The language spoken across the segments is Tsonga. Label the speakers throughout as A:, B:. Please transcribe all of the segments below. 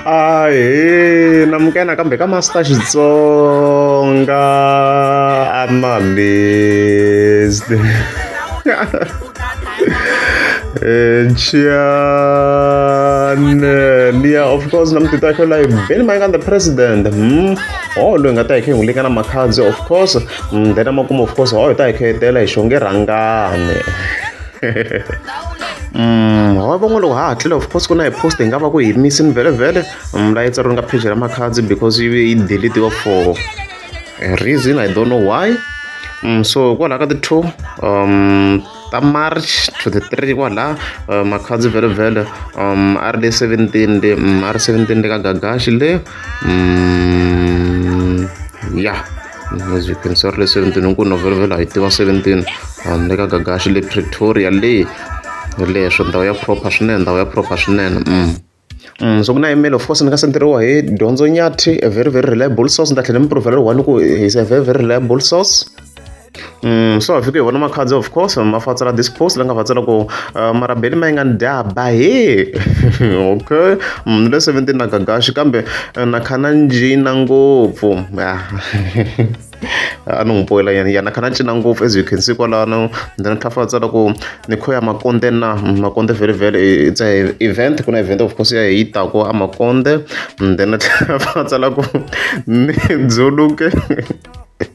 A: ahe na mukena kambe ka master xitsonga i'm amazed Chiane Nia of course namtita kho la beni my the president hmm oh lo nga ta khe ngule kana makhadzi of course hmm then amakumo of course oh ta khe tela hi shonge rangane Mm, wa van'we loko ha hatlile of course ku na hi post hi nga va ku hi misi ni vhelevhele mm, layi tsariwe nga page ra makhadzi because yi yi deletiwa for a reason i don't know why mm, so kwalaha ka ti-two um ta march to the three kwalaha uh, makhadzi vhelevhele um a ri le seventeen le mm, a ri seventeen le ka gagashi le mm, ya yeah. As you can start lesson 17 nku November hi tiva 17 handle ka Gagashi le Pretoria le leswo ndhawu ya proper swinene ndhawu ya proper swinene mm. Mm, so ku na email of course ni nga senderiwa hi dyondzo nyathi a very very reliable source ni ta tlhela ni mi provela ri one ku is a very very reliable source Mm, so afike hi vona makhadzi of course ma fatsela this post la nga fatsela ku uh, marabeli ma yi nga ni dya ba he okay munhu le 17 na gagaxi kambe uh, na khana njina ngopfu ah. a ni n'wi boyela yena yena kha na cina ngopfu as you can see kwalano ndzi na tlhafa tsala ku ni khoya makonde na makonde very very it's a event ku na event of course ya hi tako a makonde ndzi na tlhafa tsala ku ni dzuluke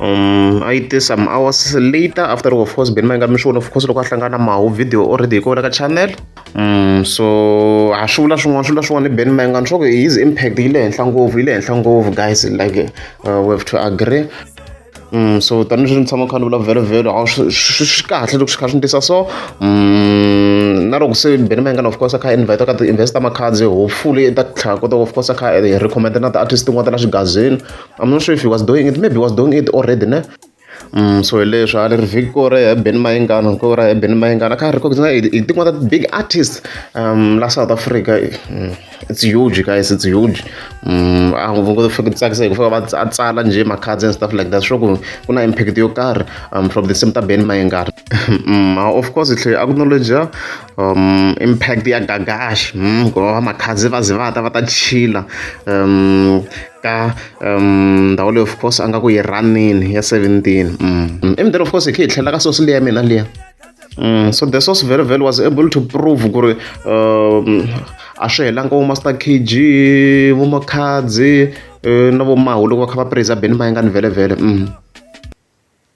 A: um a yi te some hours later after of course beni ma yi nga mi swi vona of course loko a hlangana mahu video already hi kona ka channel um so a swi vula swin'wana swi vula swin'wana ni beni ma yi nga ni swa ku his impact yi le henhla ngopfu yi le henhla ngopfu guys like uh, we have to agree um so tanihileswi ni tshama kha ni vulavhela vhelo a swi kahle loko swi kha swi ni tisa so um na loko se beni mayengana of course a kha invite ka ti-invest ta makhadzi hopefully ta tlhela kota of course a kha recommend na ti-artist tin'wana ta la xigazini I'm not sure if he was doing it maybe he was doing it already ne Mm, so leswi a ri vhiki ko ra ya ben mayingana ko ra ya ben mayingana ka ha ri kokisa hi tin'wana ta big artist um la south africa mm, it's huge guys it's huge mm, a ngo ngo fika tsakisa hi ku fika va tsala nje ma cards and stuff like that sure ku ku na impact yo karhi um from the same ta ben mayingana mm, of course hle a ku knowledge um impact ya gagashi um hmm, ngoba makhazi va ze va ta va ta chila um ka um ndhawu leyi of course a nga ku yi ranini ya 17 um i mdere of course hi khe hi tlhela ka sosi leya mina liya um so the source very well was able to prove ku ri um a swi helanga vo master kg vo makhadzi eh, na vo mahu loko va kha va praise beni va yi nga ni vhelevhele um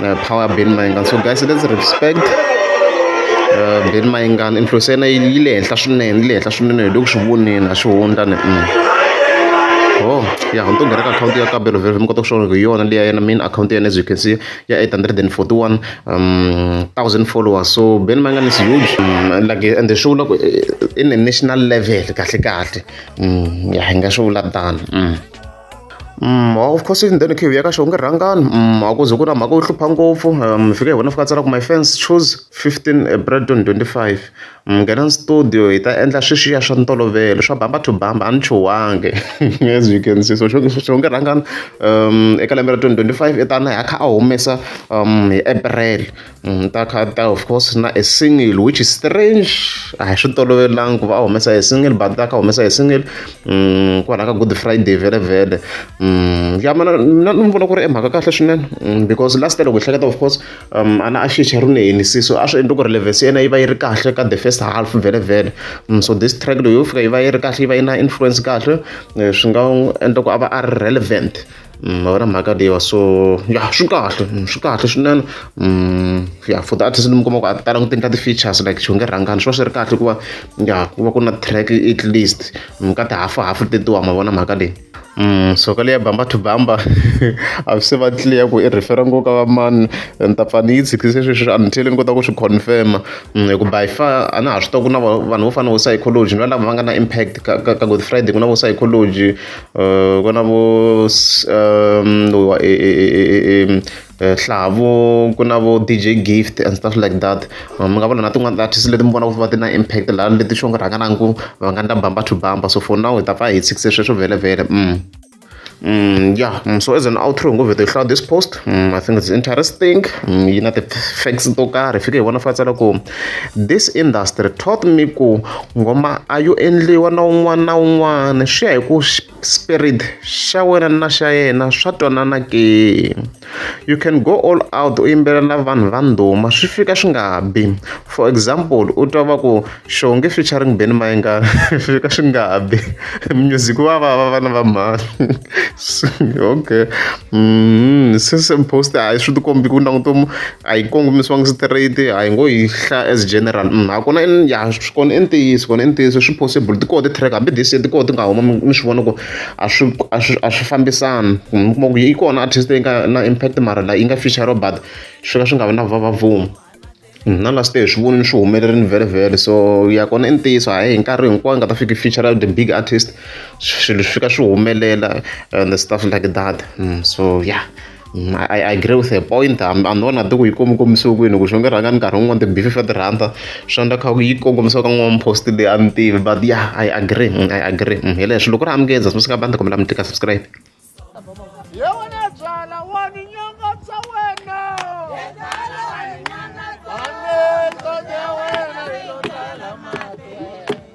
A: uh, power Ben Mayengani so guys let's respect uh, Ben Mayengani influence ya yena yi le henhla swinene yi le henhla swinene hi le ku swi voneni a swi hundla ni mm. oh ya ni to nghena ka akhawunti ya kabelo vhele mi kota ku swona ku hi yona leyi ya yena main akhawunti ya yena as you can see ya 841 um, thousand followers so Ben Mayengani is huge um, like and swi vula ku eh, in a national level kahle kahle mm, ya hi nga swi vula tano mm. of course in then khivi ya ka xona ku rhangani a ku ze ku na mhaka yo hlupha ngopfu mi fika hi wena fika tsala ku my fans choose fifteen Braton twenty five mi nghena studio hi ta endla sweswiya swa ntolovelo swa bamba to bamba a ni chuhangi as you can see so xo xo nge rhangani eka lembe ra twenty twenty five i ta na hi a kha a humesa hi April. Mm, ta khata of course na a single which is strange a hi swi tolovelangi ku va a humesa a single but ta ka humesa a single mm, kwalaho ka good friday vele vele mm, ya mana na ni vona ku ri emhaka kahle swinene because last loko hi hleketa of course um, a na a xicha ri ne henisiso a swi endli ku ri levesi yena yi va yi ri kahle ka the first half vele vele so this track leyi yo fika yi va yi ri kahle yi va yi na influence kahle eh, swi nga endla ku a va a ri relevant Mm, ma vona mhaka leyiwa so ya swi kahle mm, swi kahle swinene mm, ya for the artist ni mi kuma ku a ti talanga ti endla ti-features like xi nge rhangani swi va swi ri kahle hikuva ya ku va ku na track at least ka tihafuhafu tetiwa ma vona mhaka leyi Mm, so ka leya bamba to bamba a swi se va clear ku i refera ngo ka va mani ni ta pfa ni yi tshikise sweswi until ni kota ku swi confirma mm, hi ku by far a na ha swi tiva ku na vanhu vo fana vo psychology ni va lava va nga na impact ka, ka, ka good friday ku na vo psychology Uh, ku na vo um lowa e e e e e nhlavo ku na vo D_J gift and stuff like that mi nga vona na tin'wani ti-artist leti mi vonaka ku va ti na impact laha leti swo ku rhanga na ku va nga endla bamba to bamba so for now hi ta pfa hi tshikise sweswo vhelemvhele ya so as an outro hi ngo vheta hi hlaya this post I think it's interesting yi na ti-facts to karhi hi fike hi vona fa tsala ku. This industry taught me ku ngoma a yo endliwa na un'wana na un'wana swi ya hi ku spirit xa wena na xa yena swa twanana ke you can go all out u yimbelela vanhu va ndhuma swi fika swi nga bi for example u twa va ku xonge featuring beni mayengana swi fika swi nga bi music wa va va vana va mhani okay mm, since post a swi tikombi ku languta a yi kongomisiwangi straight a hi ngo yi hlaya as general ha kona ya swi kona i ntiyiso kona i ntiyiso swi possible ti koho ti-track hambi this year ti koho ti nga huma mi swi vona ku a swi a swi a swi fambisani mi kuma ku yi kona artist leyi nga na impact mara la yi nga feature but swi ka swi nga vi na va va vuma na la swi swi vonini swi humelerile vhele vhele so ya kona i ntiyiso hayi hi nkarhi hinkwawo nga ta fiki feature the big artist swilo swi fika swi humelela and the stuff like that mm, so yeah Mm, I, I agree with a point hambi hambi vona ti ku yi komikomisiwe kwini ku xo nge rhanga ni nkarhi wun'wana ti-beef fa tirhanda swi endla kha ku yi kongomisiwa ka n'wana post leyi a ni tivi but ya i agree mm, i agree mm, hi leswi loko ri amukeza swi nga bandi kumela mi tika subscribe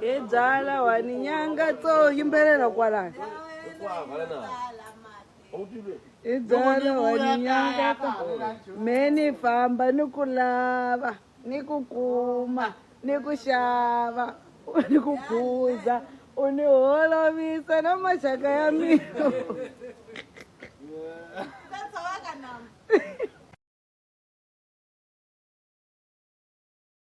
B: hi byala wani nyanga to yimbelela kwalani hi byala wani nyanga to me ni famba ni ku lava ni ku kuma ni ku xava ni ku phuza u ni holovisa na maxaka ya mina